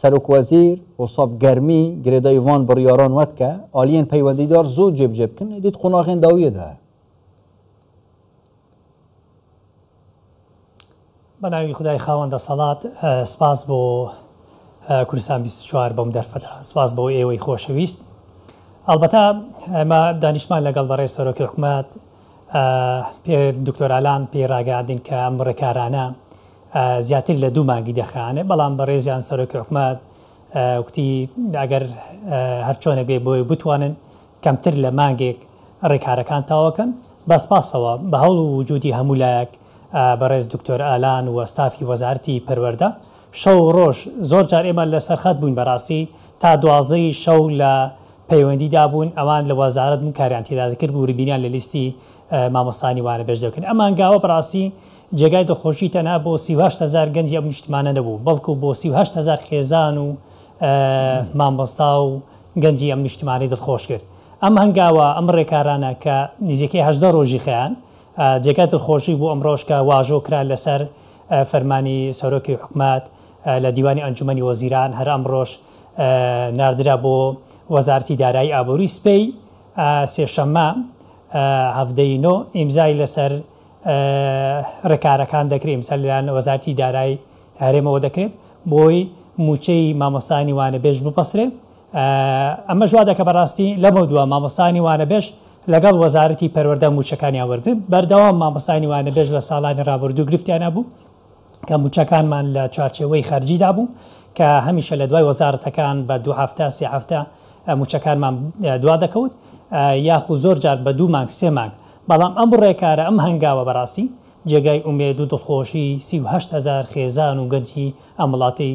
سەرۆک وەزیر وسەب گەرمی گرێدای ڤان بڕیاران وەت کە ئالیەن پەیوەندیدار زوو جێبجێ بکن ئیدیت قوناغێن داویە دە. بەناوی خودای خاوەن دەسەڵات سپاس بۆ کوردستان بیست و چوار بەم دەرفەتە سپاس بۆ ئێوەی خۆشەویست ئەڵبەتە ئەمە دانیشمان لەگەڵ بەڕێز سەرۆکی حکومەت پێر دکتۆر ئالان پێی راگەیاندین کە ئەم رێکارانە زیاتر لە دوو مانگی دەخایەنێ، بەڵام بەڕێزیان سەرۆکی حکومەت گوتی ئەگەر هەرچۆنێک بێ بۆی بتوانن کەمتر لە مانگێک رێکارەکان تەواوکەن، بە سپاسەوە بە هەوڵ و وجودی هەموو لایەک بەڕێز دکتۆر ئالان و ستافی وەزارەتی پەروەردە، شەو و ڕۆژ زۆر جار ئێمە لە سەرخەت بووین بەراستی تا دوازدە ی شەو لە پەیوەندی دا بوون ئەوان لە وەزارەت بوون کاریان تێدا دەکرد وربینیان لە لیستی مامۆستانی وانەبێژ دەکرد ئەم هەنگاوە بەراستی جێگای دڵخۆشی تەنها بۆ سی و هەشت هەزار گەنجی ئەم نیشتمانە نەبوو بەڵکو بۆ سی و هەشت هەزار خێزان و مامۆستا و گەنجی ئەم نیشتمانەی دڵخۆش کرد ئەم هەنگاوە ئەم ڕێکارانە کە نزیکەی هەژدە ڕۆژی خەیان جێگای دڵخۆشی بوو ئەمڕۆش کە واژۆ کرا لەسەر فەرمانی سەرۆکی حکومەت لە دیوانی ئەنجومەنی وەزیران هەر ئەمڕۆش ناردرا بۆ وەزارەتی دارایی ئابووری سپێی سێشەممە هەڤدە ی نۆ ئیمزای لەسەر رێکارەکان دەکرێت ئیمسا لەلایەن وەزارەتی دارای هەرێمەوە دەکرێت بۆی مووچەی مامۆستانی وانەبێژ ببەسرێت ئەمەش وا دەکە بەڕاستی لەمەودوا مامۆستانی وانەبێژ لەگەڵ وەزارەتی پەروەردە مووچەکانیان وەرگرت، بەردەوام مامۆستایانی وانەبێژ لە ساڵانی رابردوو گرفتیان هەبوو کە مووچەکانمان لە چوارچێوەی خەرجیدا بوو کە هەمیشە لە دوای وەزارەتەکان بە دوو هەفتە سێ هەفتە مووچەکانمان دوا دەکەوت یاخو زۆر جار بە دوو مانگ سێ مانگ بەڵام ئەم رێکارە ئەم هەنگاوە بەڕاستی جێگای ئومێد و دڵخۆشی سی و هەشت هەزار خێزان و گەنجی ئەم وڵاتی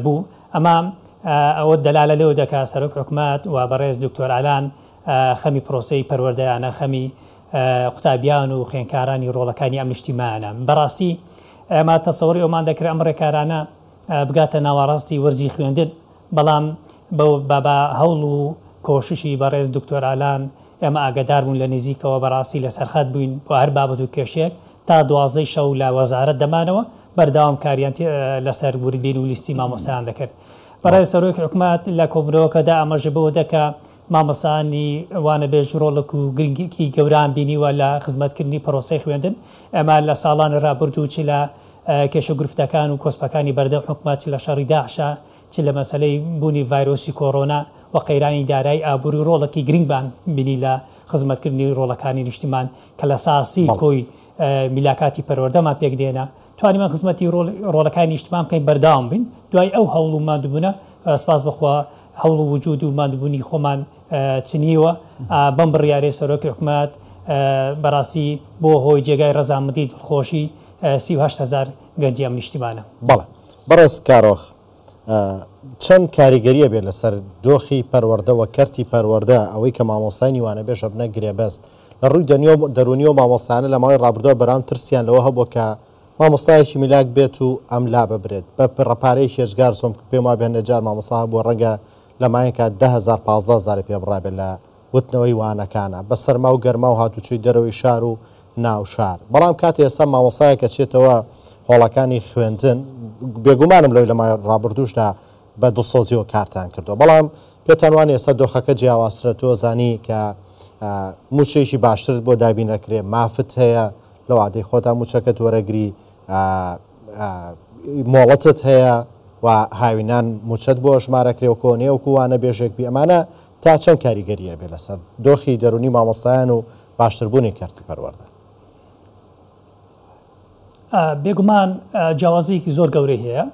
بوو ئەمە ئەوە دەلالە لەوە دەکات سەرۆک حکومەت و بەڕێز دکتۆر ئالان خەمی پرۆسەی پەروەردەیانە، خەمی قوتابیان و خوێنکارانی رۆڵەکانی ئەم نیشتیمایانە. بەراستی ئێمە تەسەوری ئەومان دەکرد ئەم رێکارانە بگاتە ناوەراستی وەرزی خوێندن، بەڵام بە هەوڵ و کۆششی بەڕێز دکتۆر ئالان ئێمە ئاگەدار بوون لە نیزیکەوە بەراستی لە سەرخەت بووین بۆ هەر بابەت و کێشەیەک تا دوازدەی شەو لە وەزارەت دەمانەوە بەردەوام کاریان لەسەر وردبین و لیستی مامۆستایان دەکرد. بەڕێز سەرۆکی حکومەت لە کۆبوونەوەکەدا ئاماژە بەوە دا کە مامۆستایانی وانەبێژ ڕۆڵک و گرنگیی گەوران بینیوە لە خزمەتکردنی پرۆسەی خوێندن. ئێمە لە ساڵانی ڕابردوو چ لە کێشە گرفتەکان و کۆسپەکانی بەردەم حکومەت، چ لە شەڕی داعشە، چ لە مەسەلەی بوونی ڤایرۆسی کۆرۆنا و قەیرانی دارایی ئابووری ڕۆڵەکی گرنگمان بینی لە خزمەتکردنی ڕۆڵەکانی نیشتمان کە لە ساسی کۆی میلاکاتی پەروەردەمان پێک دێنا. توانیمان خزمەتی ڕۆڵەکانی نیشتمان بکەین بەردەوام بین دوای ئەو هەوڵ و ماندووبوونە سپاس بەخوا. هەوڵ و وجود و ماندوبونی خۆمان چنیوە بەم بڕیارەی سەرۆکی حکومەت بەراستی بوە هۆی جێگای رەزامەندی دڵخۆشی سی و هەشت هەزار گەنجی ئەم نیشتیمانە. بەڵێ بەڕێز کارۆخ چەند کاریگەری ئەبێت لەسەر دۆخی پەروەردە و کەرتی پەروەردە ئەوەی کە مامۆستای نیوانەبێژ ئەبنە گرێبەست لە ڕووی دەنیۆ دەرونیەوە مامۆستایانە لە ماوەی ڕابردووە بەرام ترسیان لەوە هەبووە کە مامۆستایەکی میلاک بێت و ئەم لا ببرێت بە پرە پارەیەکی ئێجگار چۆن بکە پێم وابێ هەندێ جار مامۆستا هەبووە ڕەنگە لە ماینکا دە هەزار پازدە هەزاری پێ بڕابێ لە وتنەوەی وانەکانا بە سەرما و گەرما و هاتوچۆی دەرەوەی شار و ناو شار بەڵام کاتێ ئێستا مامۆستایەک ئەچێتەوە هۆڵەکانی خوێندن بێگومانم لەوەی لە مای ڕابوردووشدا بە دڵسۆزیەوە کارتان کردووە بەڵام پێتان وانە ئێستا دۆخەکە جیاوازترە تۆ زانی کە مووچەیەکی باشترت بۆ دابین ئەکرێ مافت هەیە لە وادەی خۆتا موچەکەت وەرەگری ئا ئا مۆڵەتت هەیە و هاوینان موچەت بۆ ئەژمارەکرێ و کۆنێ وەکو وانە بێژێک بی ئەمانە تا چەند کاریگەری ئەبێ لەسەر دۆخی دەرونی مامۆستایان و باشتر بونی کەرتی پەروەردە. بێگومان جیاوازیەکی زۆر گەورەی هەیە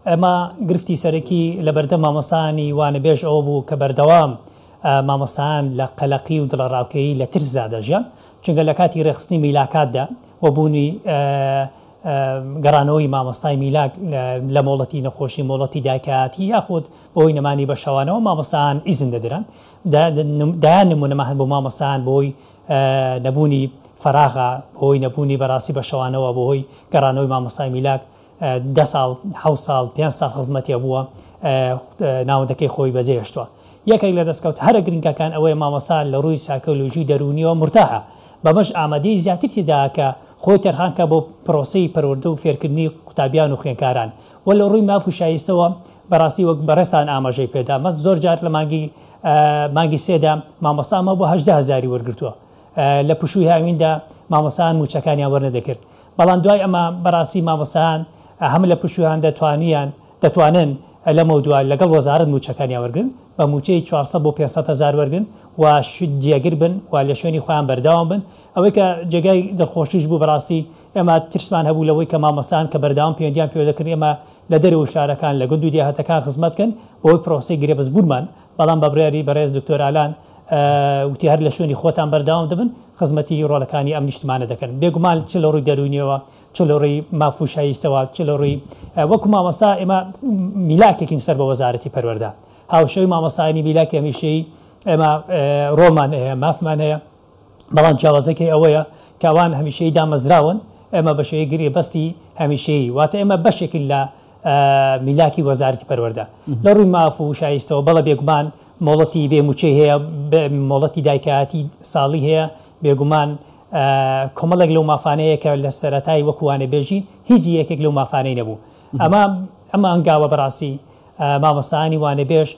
ئەمە گرفتی سەرەکی لە بەردەم مامۆسانی وانەبێژ ئەوە بوو کە بەردەوام مامۆستایان لە قەلەقی و دڵەڕاوکێی لە ترسدا دەژیان چونکە لە کاتی رێکخستنی میلاکاتدا و بوونی گەڕانەوەی مامۆستای میلاک لە مۆڵەتی نەخۆشی مۆڵەتی دایکایەتی یاخود بەهۆی نەمانی بە شەوانەوە مامۆستایان ئیزن دەدران دەیان نمونەمان هەن بۆ مامۆستایان بەهۆی نەبوونی فەراغە بەهۆی نەبوونی بەراستی بە شەوانەوە بەهۆی گەڕانەوەی مامۆستای میلاک دە ساڵ، حەوت ساڵ، پێنج ساڵ خزمەتێ بووە ناوەندەکەی خۆی بەجێ هێشتووە. یەکێک لە دەستکەوتە هەرە گرنگەکان ئەوەیە مامۆستا لە رووی سایکۆلۆژی و دەروونییەوە مورتاحە، بەمەش ئامادەیی زیاتر تێدایە کە خۆی تەرخان کات بۆ پرۆسەی پەروەردە و فێرکردنی قوتابیان و خوێندکاران و لە رووی ماف و شایستەوە بەراستی وەک بەڕێزتان ئاماژەی پێدا من زۆر جار لە مانگی مانگی سێدا مامۆستام هەبووە هەژدە هەزاری وەرگرتووە لە پشووی هاویندا مامۆستایان مووچەکانیان وەرنەدەگرت بەڵام دوای ئەمە بەڕاستی مامۆستایان هەم لە پشوویان دەتوانیان دەتوانن لەمەودوا لەگەڵ وەزارەت مووچەکانیان وەرگرن بە مووچەی چوار سەد بۆ پێنج سەد هەزار وەرگرن و جێگر بن و لە شوێنی خۆیان بەردەوام بن ئەوەی کە جێگای دڵخۆشیش بوو بەڕاستی ئێمە ترسمان هەبوو لەوەی کە مامۆستایان کە بەردەوام پەیوەندیان پێوە دەکردین ئێمە لە دەرەوەی شارەکان لە گوند و دێهاتەکان خزمەت بکەن بەوەی پرۆسەی گرێبەستبوونمان بەڵام بە بڕیاری بەڕێز دکتۆر ئالان وتی هەر لە شوێنی خۆتان بەردەوام دەبن خزمەتی ڕۆلەکانی ئەم نیشتمانە دەکەن بێگومان چ لە ڕووی دەروونیەوە چ لە ڕووی ماف و شایستەوە چ لە ڕووی وەکو مامۆستا ئێمە میلاکێکین سەر بە وەزارەتی پەروەردە هاوشێوەی مامۆستایانی میلاکی هەمیشەیی ئێمە ڕۆڵمان هەیە مافمان هەیە بەڵام جیاوازەکەی ئەوەیە کە ئەوان هەمیشەیی دامەزراون، ئێمە بە شێوەی گرێبەستی هەمیشەیی، واتە ئێمە بەشێکین لە میلاکی وەزارەتی پەروەردە. لە ڕووی ماف و شایستەوە، بەڵێ بێگومان مۆڵەتی بێ مووچەی هەیە، مۆڵەتی دایکایەتی ساڵی هەیە، بێگومان کۆمەڵێک لەو مافانە هەیە کە لە سەرەتای وەکو وانەبێژی هیچ یەکێک لەو مافانەی نەبوو. ئەمە ئەم هەنگاوە بەڕاستی مامۆستایانی وانەبێژ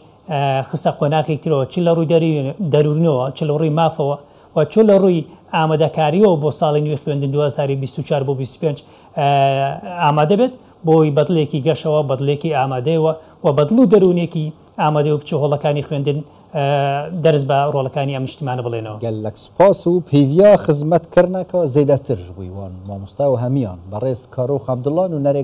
خستە قۆناغێکی ترەوە، چ لە ڕووی دەروونیەوە، چ لە ڕووی مافەوە و چ لە ڕووی ئامادەکارییەوە بۆ ساڵی نوێی خوێندن دوو هەزار و بیست و چوار بۆ بیست و پێنج ئامادە بێت، بۆی بەدڵێکی گەشەوە، بەدڵێکی ئامادەیەوە و بەدڵ و دەروونێکی ئامادەی و بچێ هۆڵەکانی خوێندن دەرس بە ڕۆڵەکانی ئەم نیشتیمانە بڵێنەوە. گەللەک سوپاس و پیڤیا خزمەت کەرنا کە زەیدە تر بویوان مامۆستا و هەمیان بەڕێز کارۆخ عەبدوڵا نونەرێ